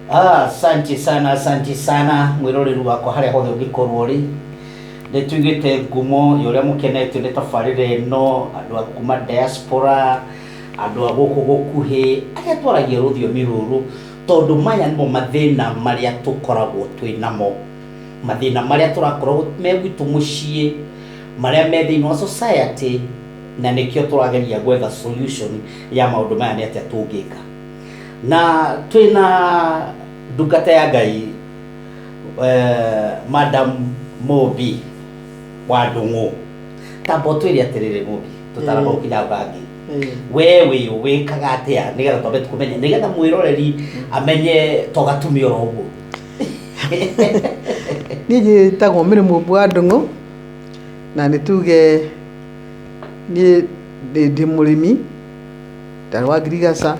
Ah, asanti sana asanti sana mwiroreri wakwa haria hothe ungikorwo ri ni tuigite ngumo ya uria mukenetio ni tabarira ino andu a kuma diaspora andu a guku gukuhi aria twaragia ruthiomi ruru tondu maya nimo mathina maria tukoragwo twi namo mathina maria turakorwo me gwitu mucii maria me thiini wa society na nikio turageria gwetha solution ya maundu maya ni atia tungika na twĩ na ndungata ya ngai eh, madam mũmbi wa ndũng'ũ tamba ũtwĩre atĩrĩrĩ mũmbi tũtaraga Mm. gũkinya bangi Eh, we wĩ wĩkaga atĩa nĩgetha twambe kũmenya nĩgetha mwĩroreri amenye to gatumia oro ũguo niĩ njĩtagwo mĩrĩ mũmbu wa ndũng'ũ na nĩ tuge niĩ ndĩ ndĩ mũrĩmi tari wa ngirigaca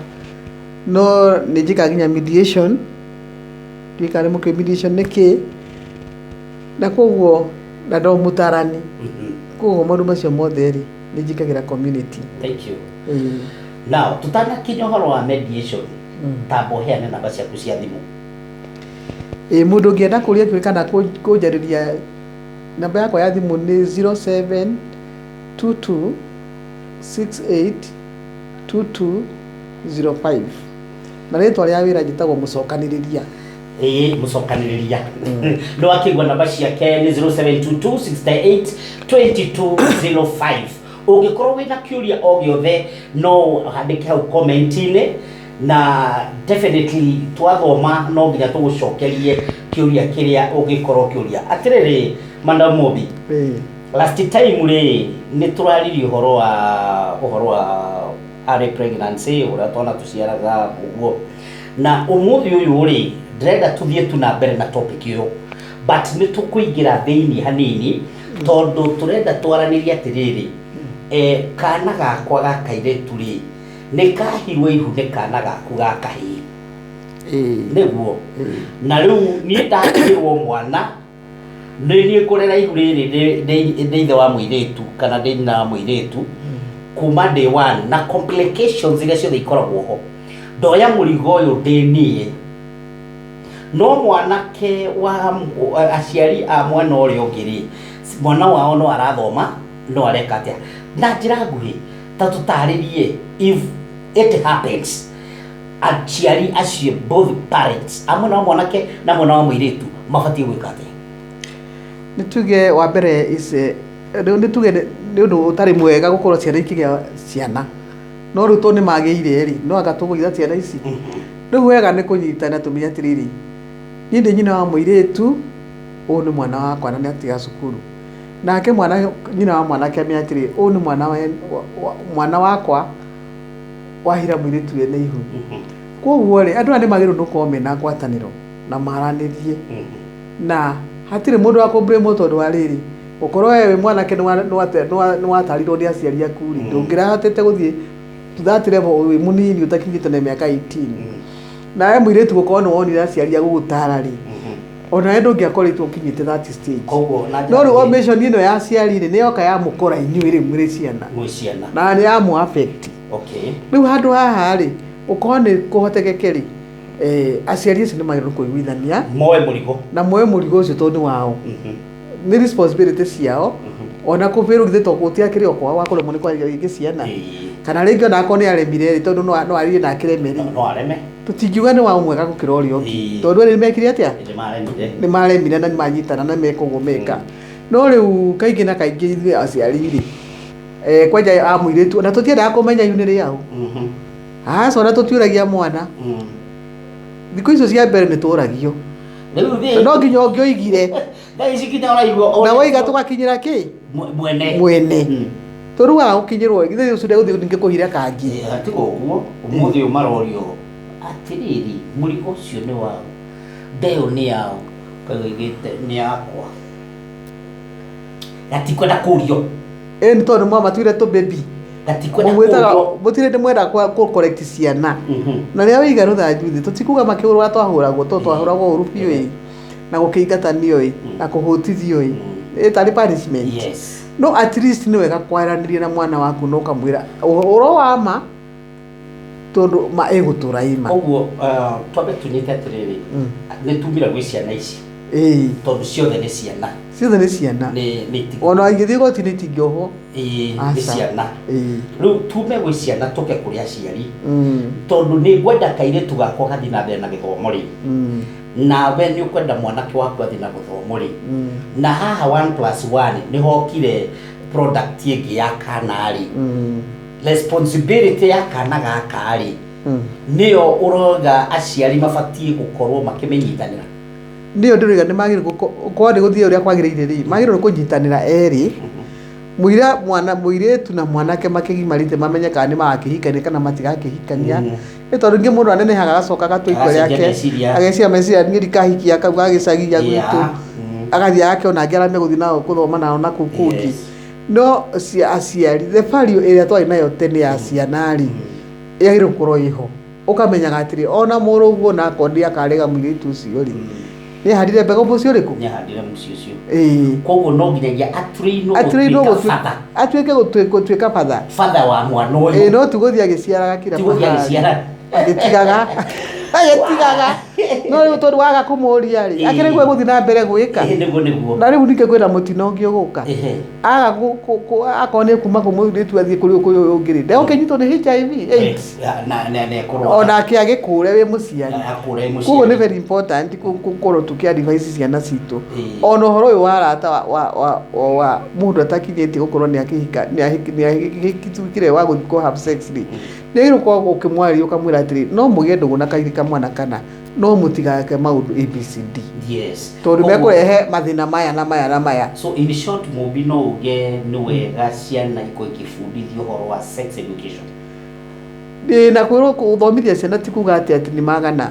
no nĩ njĩkaga nginya mediation ndiũĩ kana nĩ mũkĩ mediation nĩ kĩ na koguo na ndo mũtarani koguo maũndũ macio mothe rĩ nĩ njĩkagĩra community Thank you. Ĩĩ. Now, tutanakinya ũhoro wa mediation, tamba ũheane namba ciaku cia thimũ. Ĩĩ, mũndũ ũngĩenda kũria kĩũria kana kũ- kũnjarĩria namba yakwa ya thimũ nĩ 0722 six eight two two zero five na rĩtwa rĩa wĩra njĩtagwo mũcokanĩrĩria ĩĩ mũcokanĩrĩria no akĩgua namba ciake nĩ 0722682205 ũngĩkorwo wĩna kĩũria o gĩothe no handĩke hau komenti-inĩ na definitely twathoma no nginya tũgũcokerie kĩũria kĩrĩa ũngĩkorwo ũkĩũria atĩrĩrĩ madam Mobi Ĩĩ. Last time rĩ nĩtũraririe ũhoro wa ũhoro wa early pregnancy ũrĩa twana tũciaraga ũguo na ũmũthĩ ũyũ rĩ ndĩrenda tũthiĩ tu na mbere na topic ũyũ but nĩtũkũingĩra thĩinĩ hanini tondũ tũrenda twaranĩrie atĩrĩrĩ eh, kana gakwa ga kairĩtu rĩ nĩkahirwo ihu nĩ kana gaku ga kahĩĩ nĩguo na rĩu niĩ ndahĩrwo mwana nĩ niĩ kũrĩ raihu rĩrĩ ndĩ- ndĩ- ndĩ ithe wa mũirĩtu kana ndĩ nyina wa mũirĩtu kuma day one na complications iria ciothe ikoragwo ho ndoya mũrigo ũyũ ndĩ niĩ no mwanake wa mũ- a- aciari a mwena ũrĩa ũngĩ rĩ mwana wao no arathoma no areka atĩa na njĩra nguhĩ ta tũtarĩrie if it happens aciari acio both parents amwe na mwanake na mwana wa mũirĩtu mabatiĩ gwĩka atĩa nĩ tuge wa mbere is, eh, nĩ nĩ tuge nĩ nĩ ũndũ ũtarĩ mwega gũkorwo ciana ikĩgĩa ciana no rĩu to nĩ magĩire rĩ no anga tũgũitha ciana ici rĩu wega nĩ kũnyitana tũmenye atĩrĩrĩ niĩ ndĩ nyina wa mũirĩtu ũyũ nĩ mwana wakwa na nĩ atiga cukuru nake mwana nyina wa mwanake amenya atĩrĩ ũyũ nĩ mwana wa- wa- wa- mwana wakwa wahira mwĩrĩtu we nĩ ihu kwoguo rĩ andũ aya nĩ magĩrĩirwo nĩ gũkorwo mena ngwatanĩro na maranĩrie na hatirĩ mũndũ wa kũmbrĩmwo tondũ wa rĩrĩ gũkorwo we wĩ mwanake nĩ wa- nĩ wate- nĩ wa- nĩ watarirwo nĩ aciari aku rĩ ndũngĩrahotete gũthiĩ to that level wĩ mũnini ũtakinyĩte na mĩaka 18 nawe mũirĩtu gũkorwo nĩ wonire aciari agũgũtara rĩ onawe ndũngĩakoretwo ũkinyĩte that stage koguo na no rĩu omission ĩno ya aciari rĩ nĩ yoka yamũkora inyuĩ rĩu mũrĩ ciana mwĩ ciana na nĩ yamu affect okay rĩu handũ haha rĩ ũkorwo nĩ kũhotekeke rĩ eh, aciari acio nĩ magĩrĩirwo nĩ kũiguithania moe mũrigo na moe mũrigo ũcio tondũ nĩ wao Mhm, nĩ responsibility ciao mhm. ona kũbĩrwo githĩ to gũtiakĩrĩ o kwao wakũremwo nĩ kwarĩria rĩngĩ ciana Ĩĩ, kana rĩngĩ ona akorwo nĩ aremire rĩ tondũ no- no aririe na akĩreme rĩ no areme tũtingiuga nĩ wa mwega gũkĩra ũrĩa ũngĩ Ĩĩ. tondũ erĩ nĩ mekire atĩa nĩ maremire nĩ maremire na nĩ manyitana na meka ũguo meka no rĩu kaingĩ na kaingĩ ithuĩ aciari rĩ eh, kwenja a mũirĩtu ona tũtiendaga kũmenya iu nĩ rĩaũ Mhm. aca ona tũtiũragia mwana Mm. thikũ icio cia mbere nĩ tũragio Rĩu Na thĩ. no nginya ũngĩoigire Thaa ici nginya ũraigua. na waiga tũgakinyĩra kĩ Mwe- Mwene. mwene Mm. tũruaga gũkinyĩrwo githĩ ũcio ndegũthiĩ ningĩ kũhire kangi Eh, Atiga ũguo. Ũmũthĩ ũyũ marorio. Atĩrĩrĩ, mũrigo ũcio nĩ wao. Ndeo nĩ yao. Kagoigĩte nĩ yakwa. gatikwenda kũrio ĩ nĩ tondũ mwamatuire tũ baby gatikwenda mũmwĩtaga kũrio mũtirĩ ndĩ mwenda kwa- kũ correct ciana Mhm. na rĩrĩa wĩiga rũthanju thĩ tũtikuga makĩhũrwa twahũragwo to twahũragwo ũru biũ ĩ na gũkĩingatanio ĩ na kũhũtithio ĩ ĩ tarĩ punishment yes no at least nĩ wega kwaranĩria na mwana waku na ũkamwĩra ũhoro wa ma tondå ma ä gå tå ra ä ma koguo ah, twambe tũnyite atĩrĩrĩ Mm. nĩ tumire gwĩ ciana ici Ĩĩ, tondũ ciothe nĩ ciana ciothe nä ciana nĩ nĩ itigũ- ona ingä thiä gotinä itingä ohwo Ĩĩ, nĩ Aca. ciana rĩu tume gwĩ ciana tũke kũrĩ aciari tondå nä ngwenda kairĩtu gakwa gathi na mbere na gĩthomo rĩ nawe nä å kwenda mwanake waku athi na gũthomo rä na haha one plus one nä hokire product ĩngĩ ya kana rĩ responsibility ya kana gaka rĩ nĩyo ũroga aciari mabatiĩ gũkorwo makĩmĩnyitanĩra ndio ndĩrĩga nĩ magĩrĩirwo kwani gũthiĩ ũrĩa kwagĩrĩire rĩ magĩrĩirwo kũnyitanĩra erĩ mũira mwana mũirĩtu na mwanake makĩgimarĩte mamenye kana nĩ magakĩhikania kana matigakĩhikania Mm. nĩ tondũ ingĩ mũndũ anenehaga agacoka agatwa itua Agacenjia rĩake meciria. ageciria meciria niĩ ndikahikia kau gagĩcagi ya gwitũ Yeah. Mm. agathiĩ agakĩona angĩ arĩa megũthiĩ nao gũthoma nao na kũu kũngĩ Yes. no cia aciari the value ĩrĩa twarĩ nayo tene ya ciana rĩ yagĩrĩirwo gũkorwo ĩho ũkamenyaga atĩrĩ ona mũrũguo nako ndiakarega mũirĩtu ũcio rĩ nĩ ahandire mbegũ mũciĩ ũrĩkũ nĩ ahandire mũciĩ ũcio Ĩĩ. koguo no nginyagia atũrĩirwo atĩrĩirwo gũtuĩka gũtu- baba atuĩke gũtu- gũtuĩka batha baba wa mwana Ĩĩ, ũyũ no tigũthiĩ agĩciaraga kira tigũthiĩ mahali. agĩciara agĩtigaga agĩtigaga no rĩu tondũ waga kũmũria rĩ Ĩĩ. akĩrĩ guo gũthiĩ na mbere gwĩka Ĩĩ, nĩguo nĩguo na rĩu ningĩ kwĩna mũtino ũngĩ ũgũka Ĩhĩ. aga gu- ku- ku- akorwo nĩ kuma kũmũthuri tu athiĩ kũrĩ kũrĩ ũyũ ũngĩ rĩ ndegũkĩnyitwo nĩ HIV AIDS Na- na- na- na ĩkorwo- ona ake agĩkũre wĩ mũciari na akũra ĩ mũciari. koguo nĩ very important kũ- gũkorwo tũkĩ advise ciana citũ Ĩĩ. ona ũhoro ũyũ wa arata wa- wa- wa- wa- wa mũndũ atakinyĩtie gũkorwo nĩ akĩhika nĩ ahiki- nĩ ahikitũkire wa gũthiĩ kũ have sex rĩ Rĩrĩa ũkoragwo ũkĩmwarĩria ũkamwĩra atĩrĩ no mũgĩe ndũgũ na kairĩ kamwe na kana no mũtigake maũndũ ABCD. Yes. Tondũ Koguo- mekũrehe mathĩna maya na maya na maya. So in short Mumbi no uge nĩ wega ciana ikorwo ikĩbundithio ũhoro wa sex education. Ĩĩ na kwĩrwo gũthomithia ciana ti kuga atĩ atĩ nĩ magana.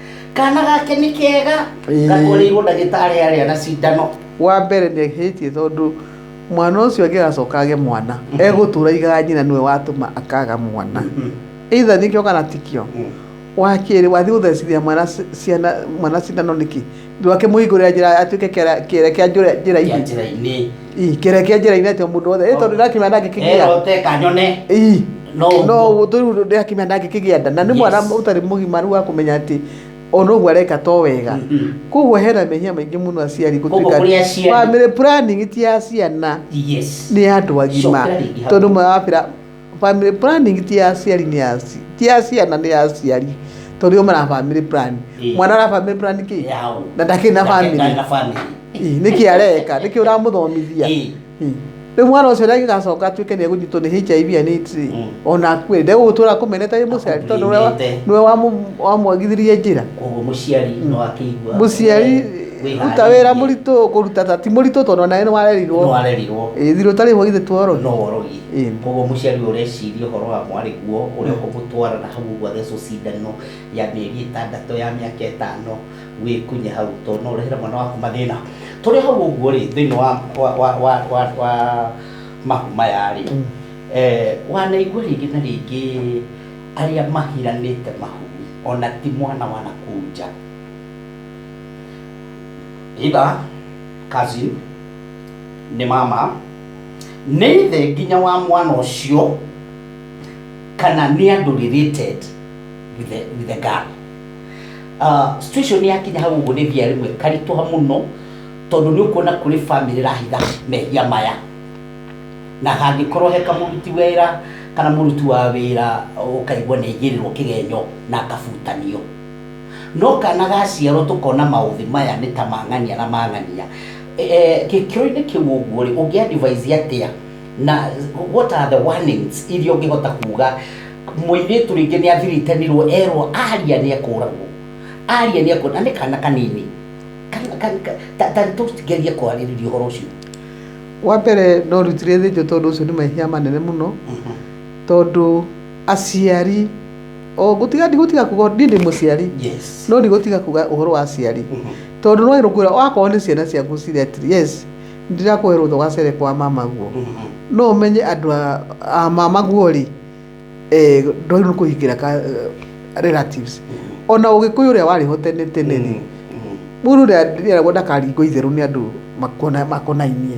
Kaana gake nĩ kega. Ĩĩ. Gakoreirwo ndagĩtarĩ arĩa na cindano. Wa mbere nĩ ehĩtie tondũ mwana ũcio angĩgacoka age mwana, egũtũra aigaga nyina nĩwe watũma akaga mwana. Either nĩkĩo kana tikĩo. Wa kerĩ wathiĩ gũthecithia mwana ci- ciana mwana cindano nĩkĩ? Ndu akĩmũhingũrĩra njĩra atuĩke kĩara- kĩere kĩa njũra- kĩa njĩra-inĩ njĩra-inĩ Ii, kĩere kĩa njĩra-inĩ atĩ mũndũ wothe ĩ tondũ ndakĩmenya ndangĩkĩgĩa erote kanyone Ii, no no ũguo. tũrĩu ndakĩmenya ndangĩkĩgĩa nda na nĩ mwana Yes. ũtarĩ mũgimaru wa kũmenya atĩ ona ũguo areka to wega Mhm. koguo hena mehia maingĩ mũno aciari Koguo kũrĩ aciari. family planning ti ya ciana yes nĩ ya andũ agima Cokera rĩngĩ hau. tondũ mwe wabĩra Family planning ti ya aciari nĩ ya aci- ti ya ciana nĩ ya aciari tondũ yo mara family plan Ĩĩ. mwana ara family plan kĩ Yaũ. na ndakĩ na family Ndakĩrĩ na family. Ĩĩ, nĩkĩ areka nĩkĩ ũramũthomithia Ĩĩ. Ĩĩ. rĩu mwana ũcio rĩa gĩgacoka atuĩke nĩ egũnyitwo nĩ hiv and AIDS rĩ, Mm. ona akue ndegũgũtũra kũmeneta wĩ mũciari tondũ nĩwe wa- Akũmenete. nĩwe wamũ- wamwagithirie njĩra Koguo mũciari no akĩigua. mũciari Wĩharĩirie. ruta wĩra mũritũ kũruta ta ti mũritũ tondũ nawe nĩ No warerirwo arerirwo. Ĩĩ, thirũ ũtarĩ ho githĩ tuorogio No worogi. Ĩĩ. Kwoguo mũciari ũyũ ũreciria ũhoro wa mwarĩguo ũrĩa ũkũmũtwara na hau ũguo athecwo cindano ya mĩeri ĩtandatũ, ya mĩaka ĩtano, wĩkunye hau tondũ no ũrehere mwana waku mathĩna. Tũrĩ o hau ũguo rĩ, thĩinĩ wa wa wa wa wa wa mahu maya rĩ, wanaigua rĩngĩ na rĩngĩ arĩa mahiranĩte mahu ona ti mwana wa nakũu nja, either cousin, nĩ mama, nĩ ithe nginya wa mwana ũcio kana nĩ andũ related with the, with the girl uh, situation yakinya hau ũguo nĩ thia rĩmwe karitũha mũno tondũ nĩ ũkuona kũrĩ family rahitha mehia maya na hangĩkorwo he kamũruti wĩra kana mũruti wa wĩra ũkaigua nĩ aigĩrĩrwo kĩgenyo na akabutanio no kana gaciarwo tũkona maũthĩ maya nĩ ta mang'ania na mang'ania Eh, gĩkĩro-inĩ kĩu ũguo rĩ ũngĩ advise atĩa na what are the warnings iria ũngĩhota kuga mũirĩtu rĩngĩ nĩ athiritanirwo erwo aria nĩ ekũragwo aria nĩ ekũragwo na nĩ kana kanini Kana- ka- ka- ta- ta tũgerie kwarĩrĩria ũhoro ũcio wa mbere no rutire thĩnjo tondũ ũcio nĩ mahia manene mũno tondũ aciari o ngũtiga ndigũtiga kuga ũndũ- niĩ ndĩ mũciari yes no ndigũtiga kuga ũhoro wa aciari tondũ no ĩrũkwĩra wakorwo nĩ ciana ciaku cirĩ atiri yes ndirakũhe rũtha ũgacere kwa mamaguo no ũmenye andũ a- a mamaguo rĩ eh, ndwagĩrĩirwo nĩ kũhingĩra ka- eh, relatives ona ũgĩkũyũ ũrĩa warĩ ho tene tene rĩ mũndũ nĩeragwo ndakaringwo itherũ nĩ andũ makona- makonainie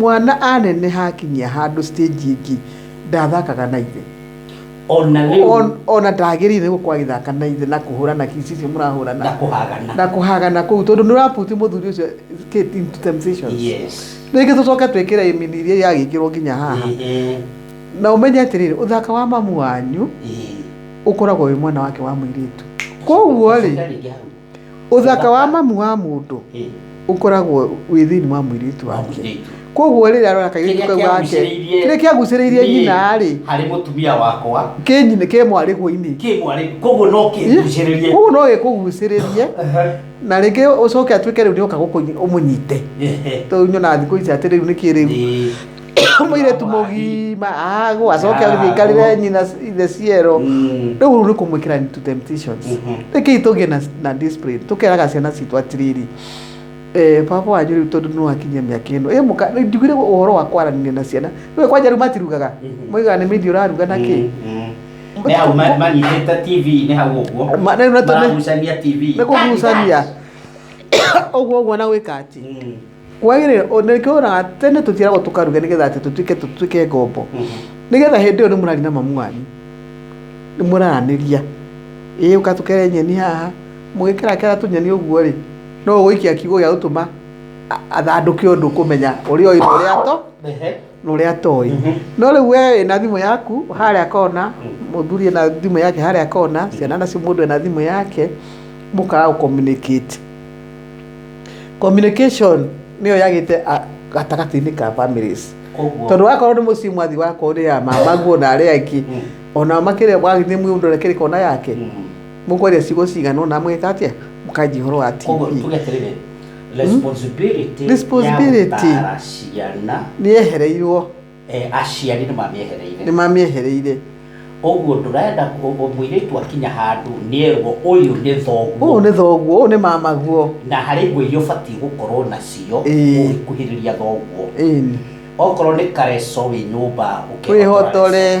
Mwana aneneha akinyia handũ stage ĩngĩ ndathakaga na ithe. ona rĩu On- Ona ndagĩrĩire nĩ gũkorwo agĩthaka na ithe na kũhũrana kiss icio mũrahũrana. na kũhagana na kũhagana kũu tondũ nĩ ũraputi mũthuri ũcio get into temptations yes rĩngĩ tũcoke twĩkĩre imini iria yagĩkĩrwo nginya haha Ehe, na ũmenye atĩrĩrĩ ũthaka wa mamu wanyu ehe. ũkoragwo wĩ mwana wake wa mũirĩtu koguo rĩ Ũcoke rĩngĩ hau. Ũthaka wa mamu wa mũndũ ũkoragwo wĩ thĩinĩ wa mũirĩtu wake koguo rĩrĩa arora kairĩtu kau gake kĩrĩa kĩagucĩrĩirie nyina rĩ harĩ mũtumia wakwa kĩ nyina kĩ mwarĩguo-inĩ kĩ mwarĩguo koguo no kĩgucĩrĩrie koguo no gĩkũgucĩrĩrie na rĩngĩ ũcoke atuĩke rĩu nĩoka gũkũ ũmũnyite tondũ nyonaga thikũ ici atĩ rĩu nĩkĩ rĩu mũirĩtu mũgima agwa acoke Ah, agĩthiĩ aikarĩre agwa. nyina ithe ciero Mm. rĩu rĩu nĩ kũmwĩkĩra into temptations Mhm. rĩkĩi tũgĩe na, na discipline tũkeraga ciana citũ atĩrĩrĩ eh, baba wanyu rĩu tondũ nĩ wakinyia mĩaka ĩno Eh, mũka- rĩu ndigire ũhoro wa kwaranĩria na ciana rĩu kwanja rĩu matirugaga Mhm. moigaga nĩ mĩndi ũraruga na kĩ nä hau ma- manyitĩte tv nä hau å guo Ma- rĩu na tũme- maragucania tv nĩ kũgucania ũguo ũguo na gwĩka atĩ Mm. kwagĩrĩra o- nĩ kĩonaga tene tũtiaragwo tũkaruge nĩgetha atĩ tũtuĩke tũtuĩke ngombo nĩgetha hĩndĩ ĩyo nĩ mũrari na mamu wanyu nĩ mũraranĩria ĩĩ ũka tũkere nyeni haha mũgĩkerakera tũnyeni ũguo rĩ no ũgũikia kiugo gĩa gũtũma a- athandũke ũndũ kũmenya ũrĩa ũĩ na ũrĩa ato Ehe. na ũrĩa atoĩ Mhm. no rĩu we wĩna thimũ yaku harĩa kona mũthuri ena thimũ yake harĩa kona ciana nacio mũndũ ena thimũ yake mũkaga gũcommunicate communication nĩyo yagĩte a- gatagatĩ-inĩ ka families Koguo- tondũ wakorwo nĩ mũciĩ mwathi wakorwo nĩ ya mama guo na arĩa angĩ Mm. onao makĩrĩa mwagithiĩ mũndũ ũrekĩrĩ kona yake Mm. mũkwaria ciugo cigana ona mũgĩka atĩa mũkanji ũhoro wa Koguo tv tuge atĩrĩrĩ, responsibility ya Responsibility. gũtaara ciana nĩ ehereirwo Eh, aciari nĩ mamĩehereire nĩ mamĩehereire ũguo ndũrenda kũ- ũ- mũirĩtu akinya handũ nĩerwo ũyũ nĩ ũũ thoguo nĩ thoguo ũũ nĩ mamaguo na harĩ nguo iria ũbatiĩ gũkorwo nacio Ĩĩ. ũgĩkuhĩrĩria thoguo ĩni okorwo nĩ kareco wĩ nyũmba ũkĩhotore. wĩhotore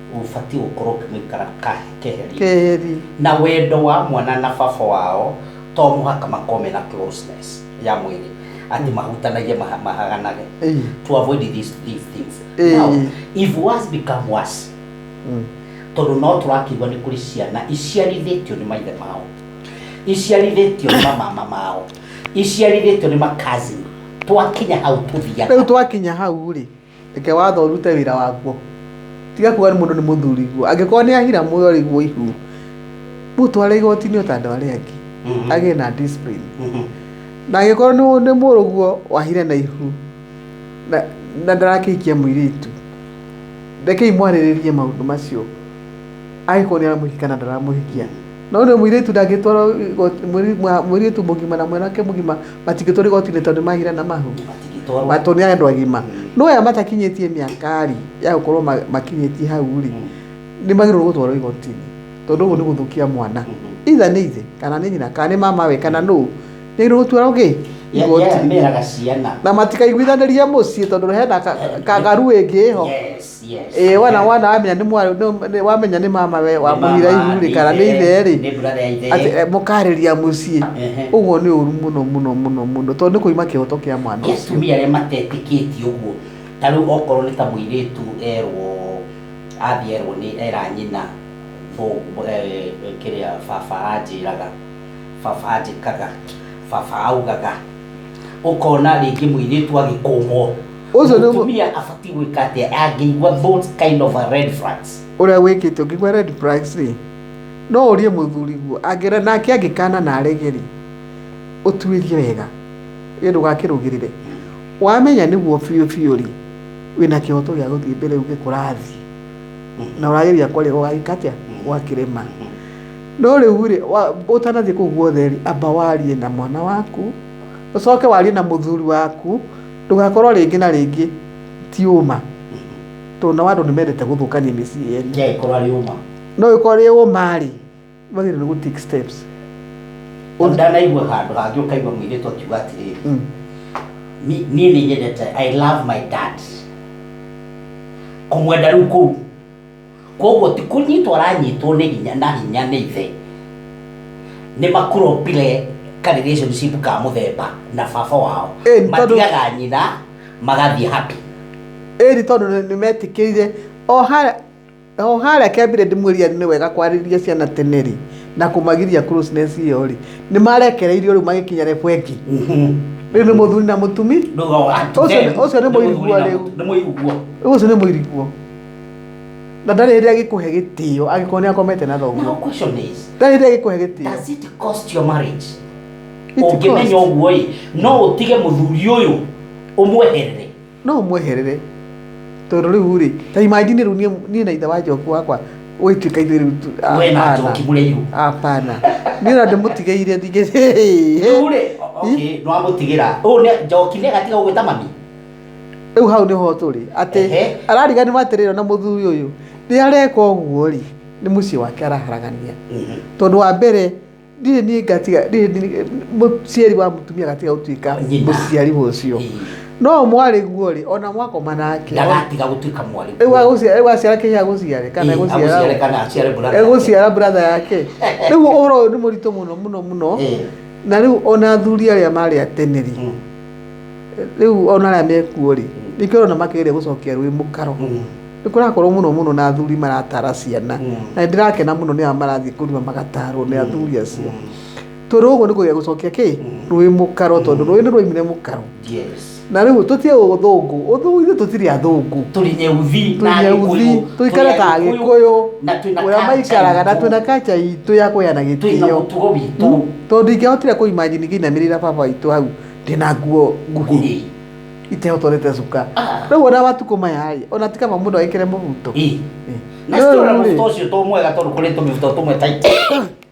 ũbatiĩ gũkorwo ũkĩmũikara kahe- keheri keheri na wendo wa mwana na baba wao to mũhaka makorwo mena closeness ya mwĩrĩ atĩ mahutanagie maha- mahaganage Ĩĩ. to avoid these, these things Ĩĩ. now if worse become worse Mm. tondũ no tũrakĩigua nĩ kũrĩ ciana iciarithĩtio nĩ maithe mao iciarithĩtio nĩ mamama mao iciarithĩtio nĩ makazini twakinya hau tũthiaga rĩu twakinya hau rĩ Reke watho ũrute wĩra waguo. Tiga kuga mũndũ nĩ mũthuriguo. Angĩkorwo nĩ ahira muoyo rĩguo ihu. Mũtware igoti-inĩ ta andũ arĩa angĩ. Mhm. Agĩe na discipline. Mhm. Na angĩkorwo nĩ nĩ mũrũguo wahire na ihu. Na, na ndarakĩhikia mũirĩtu. Rekei mwarĩrĩrie maũndũ macio. angĩkorwo nĩ aramũhikia kana ndaramũhikia no rĩu mũirĩtu ndangĩtwarwo igoti- mũirĩ- mwa- mũirĩtu mũgima na mwanake mũgima matingĩtwarwo igoti-inĩ tondũ nĩ mahira na mahu Matingĩtwarwo. matũ nĩ andũ agima no aya matakinyĩtie mĩaka-rĩ ya gũkorwo ma- makinyĩtie hau-rĩ nĩ magĩrĩirwo gũtwarwo igoti-inĩ tondũ ũguo nĩ gũthũkia mwana itha nĩ ithe kana nĩ nyina kana nĩ mama we kana nũ nĩ agĩrĩirwo gũtwarwo gĩ Ya- ya- igoti-inĩ meraga ciana na matikaiguithanĩrie mũciĩ tondũ hena ka- kagaru ĩngĩ ĩho Yes. Yes. Ĩĩ wona wona wamenya nĩ mwarĩ nĩ- nĩ- wamenya nĩ mama we wa Nĩ mama, mũhira ihu rĩ kana nĩ nĩ ithe rĩ nĩ brother ya ithe. atĩ eh, mũkarĩria mũciĩ Ehe. ũguo nĩ ũru mũno mũno mũno mũno tondũ nĩ kũima kĩhoto kĩa mwana Nĩ ũcio atumia arĩa matetĩkĩtie ũguo ta rĩu okorwo nĩ ta mũirĩtu erwo athiĩ erwo nĩ era nyina thũ- eh, kĩrĩa baba anjĩraga baba anjĩkaga baba augaga ũkona rĩngĩ mũirĩtu agĩkũmwo Ũcio nĩ- mũtumia abatiĩ gwĩka atĩa angĩigua those kind of a red flags ũrĩa wĩkĩte ũngĩgwa red flags rĩ no ũrie mũthuri guo angĩra nake angĩkana na arege rĩ ũtuĩrie wega ĩ ndũgakĩrũgĩrĩre wamenya nĩguo biũ biũ rĩ wĩna kĩhoto gĩa gũthiĩ mbere uge kũrathiĩ na ũrageria kwarĩra ũgagĩka atĩa ũgakĩrema No rĩu-rĩ, wa- ũtanathiĩ kũu guothe-rĩ, amba warie na mwana waku, ũcoke warie na mũthuri waku, ndũgakorwo rĩngĩ na rĩngĩ ti ũma. Tondũ nao andũ nĩmendete gũthũkania mĩciĩ ene. Ke ĩkorwo arĩ ũma. No ĩkorwo ĩrĩ ũma-rĩ, wagĩrĩirwo nĩ gũ take steps. Tondũ ndanaigua handũ hangĩ ũkaigua mũirĩtu akiuga atĩrĩrĩ, Mm. "Ni- niĩ nĩ nyendete, I love my dad. Kũmwenda rĩu kũu Kwoguo ti kũnyitwo aranyitwo nĩ hinya na hinya nĩ ithe. Nĩ makuropire ka relationship ka mũthemba na baba wao. Ĩĩ, nĩ tondũ- Matigaga nyina magathiĩ happy. ĩni tondũ nĩ- nĩ metĩkĩire o harĩa o harĩa kĩambire ndĩmwĩria nĩ wega kwarĩria ciana tene rĩ na kũmagiria closeness ĩyo rĩ nĩ marekereirio rĩu magĩkinya rebu ĩngĩ rĩu nĩ mũthuri na mũtumi Ndũga- Ũcio nĩ- ũcio nĩ mũiriguo rĩu. Nĩ mũiriguo. rĩu ũcio nĩ mũiriguo na ndarĩ hĩndĩ agĩkũhe gĩtĩo agĩkorwo nĩ akomete na Now thoguo question is, ndarĩ hĩndĩ agĩkũhe gĩtĩo does it cost your marriage? It Ũngĩmenya cost. ũguo ĩ, no ũtige mũthuri ũyũ ũmweherere. no ũmweherere tondũ rĩu rĩ ta imajini rĩu niĩ- niĩ na ithe wa njoku wakwa ũgĩtuĩka ithuĩ rĩu tu- We na hapana. njoki mũrĩa irũ. hapana niĩ na ndĩmũtigeire ndingĩ Rĩu rĩ, okay, nĩwamũtigĩra. Ũũ nĩ- njoki nĩagatiga gũgwĩta mami? rĩu hau nĩho tũrĩ atĩ Ehe. arariganirwo atĩrĩrĩ ona mũthuri ũyũ nĩ areka ũguo rĩ nĩ mũciĩ wake araharagania Mhm. tondũ wa mbere ndirĩ niĩ ngatiga ndirĩ niĩ- mũciari wa mũtumia gatiga gũtuĩka Nyina. mũciari wa ũcio Ii. no mwarĩ guo rĩ ona mwakoma nake ndagatiga gũtuĩka mwarĩ rĩu agũciara- rĩu aciara kĩhĩ agũciare kana Ii, agũciare egũciara kana aciare brother. egũciara bratha yake rĩu ũhoro ũyũ nĩ mũritũ mũno mũno mũno Ii. na rĩu ona athuri arĩa marĩ ateneri Mm. rĩu ona arĩa mekuo rĩ nĩkĩo ũrona makĩgeria gũcokia rũĩ mũkaro nĩ kũrakorwo mũno mũno na athuri maratara ciana na nĩ ndĩrakena mũno nĩ arĩa marathiĩ kũrima magatarwo nĩ athuri acio tondũ gũkũ nĩ kũgeria gũcokia kĩ rũĩ mũkaro tondũ rũĩ nĩ rwaimire mũkaro Yes. na rĩu tũtiĩ ũthũngũ ũthũngũ ithuĩ tũtirĩ athũngũ Tũrĩ nyeuthi na tũnyeuthi Agĩkũyũ. tũikare Tũrĩ ta Agĩkũyũ, agĩkũyũ na twĩna ũrĩa culture maikaraga na itũ. twĩna kaca itũ ya kũheana Twĩna gĩtĩo mũtugo witũ. tondũ ingĩahotire kũimagine ngĩinamĩrĩra baba witũ hau ndina nguo nguhi itehotolete cuka rĩu ona matukũ maya rĩ ona ti kaba mũndũ agĩkĩre mũbuto Ĩ. Ĩ. na Rĩu citora rĩ, mũbuto ũcio to mwega tondũ kũrĩ tũmĩbuto tũmwe tight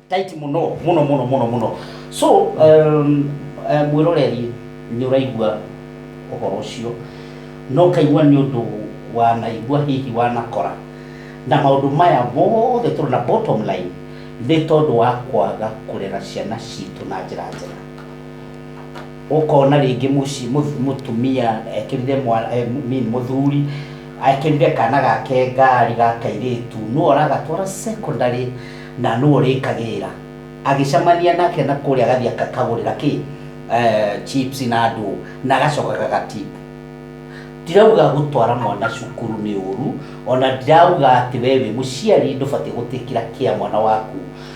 tight mũno mũno mũno mũno mũno so um, eh, mwĩroreri nĩ ũraigua ũhoro ũcio no kaigua nĩ ũndũ wanaigua hihi wanakora na maũndũ maya mothe tũrĩ na bottom line nĩ tondũ wa kwaga kũrera ciana citũ na njĩra njega ũkona rĩngĩ mũciĩ mũth- mũtumia ekĩrire mwa- eh, m- mean mũthuri ekĩrire kana gake ngari ga kairĩtu nũ aragatwara secondary na nũ ũrĩkagĩrĩra agĩcemania nake na kũrĩa agathiĩ akakagũrĩra kĩ eh, chips na ndũ na agacoka gagatipu ndirauga gũtwara mwana cukuru nĩ ũru ona ndirauga atĩ we wĩ mũciari ndũbatiĩ gũtĩkĩra kĩa mwana waku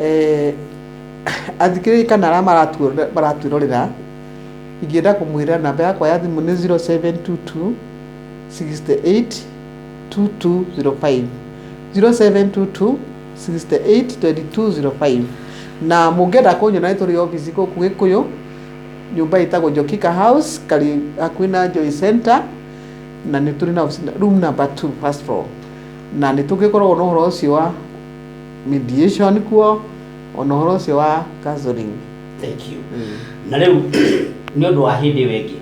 Eh, athikĩrĩria kana arĩa maratuo- maratwĩrorera ingĩenda kũmwĩra namba yakwa ya thimũ nĩ 0722 68 2205 0722 68 2205 na mũngĩenda kũnyona nĩ tũrĩ obici gũkũ gĩkũyũ nyũmba ĩtagwo njokika house karĩ hakuhĩ na joy center na nĩ tũrĩ na obici- room number 2 first floor na nĩ tũngĩkoragwo na ũhoro ũcio wa mediation kuo ona ũhoro ũcio wa counseling thank you na rĩu nĩ ũndũ wa hĩndĩ ĩyo ĩngĩ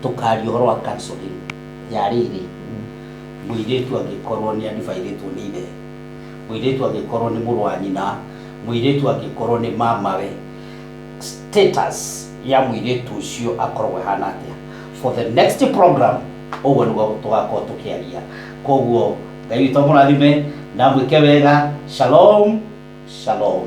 tũkaria ũhoro wa counseling ya rĩrĩ mũirĩtu angĩkorwo nĩ adivaithĩtwo nĩ ithe mũirĩtu angĩkorwo nĩ mũrũ wa nyina mũirĩtu angĩkorwo nĩ mamawe status ya mũirĩtu ũcio akoragwo ĩhana atĩa for the next program ũguo nĩguo tũgakorwo tũkĩaria koguo ngai witũ amũrathime na mwĩke wega shalom shalom